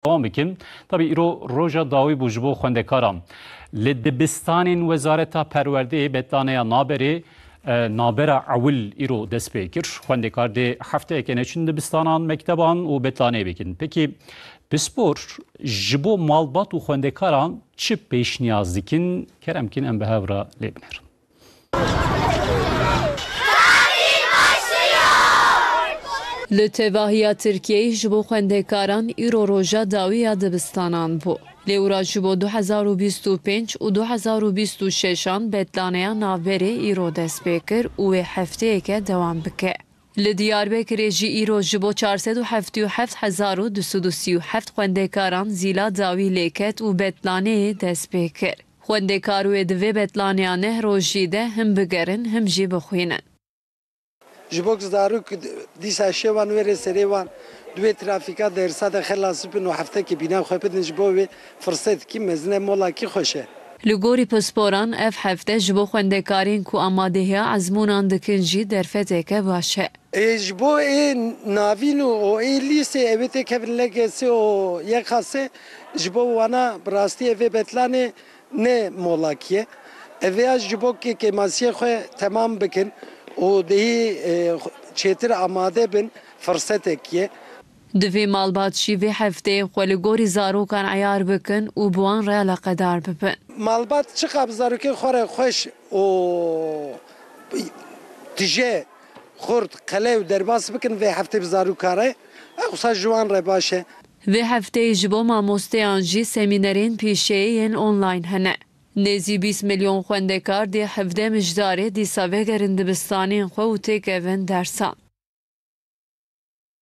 Dewam bikim, tabî îro roja dawî bû ji bo xwendekaran. Li dibistanên Wezareta Perwerdeyê betlaneya naberê nabera ewil îro dest pê kir. Xwendekar dê hefteyeke neçin dibistanan, mekteban û betlaneyê bikin. Peki pispor ji bo malbat û xwendekaran çi pêşniyaz dikin? Kerem bikin em bi hev re lê binêrin. Li tevahiya Tirkiyeyê ji bo xwendekaran îro roja dawî ya dibistanan bû. Lêwra ji bo du hezar û bîst û pênc û du hezar û bîst û şeş an betlaneya navberê îro dest pê kir û wê hefteyeke dewam bike. Li Diyarbekirê jî îro ji bo çar sed û heftê û heft hezar û du sed û sî û heft xwendekaran zîla dawî lê ket û betlaneyê dest pê kir. Xwendekar wê di vê betlaneya neh rojî de him bigerin him jî bixwînin. Ji bo ku zarok dîsa şewan wêrê serê wan di wê trafîka dersa de xelas bibin û heftekê bîna xwe bidin ji bo wê firsetekî mezin e, molakî xweş e. Li gorî pisporan ev hefte ji bo xwendekarên ku amadehiya ezmûnan dikin jî derfeteke baş e. Ji bo ê navîn û ê lîsê ew ê têkevin LGS û YKS ji bo wana bi rastî ev ê betlanê ne molakî ye. Ev ê ji bo ke kêmasiyê xwe temam bikin û dihî çêtir amade bin firsetekî ye. Divê malbat jî vê hefteyê xwe li gorî zarokan eyar bikin û bi wan re eleqedar bibin. Malbat çiqas bi zarokên xwe re xweş û tije, xurt, qelew, derbas bikin vê hefteyê bi zarokan re ev qisa ji wan re baş e. Vê hefteyê ji bo mamosteyan jî semînerên pîşeyê yên online hene. Nêzî bîst milyon xwendekar dê hevdeh mijdarê dîsa vegerin dibistanên xwe û têkevin dersan.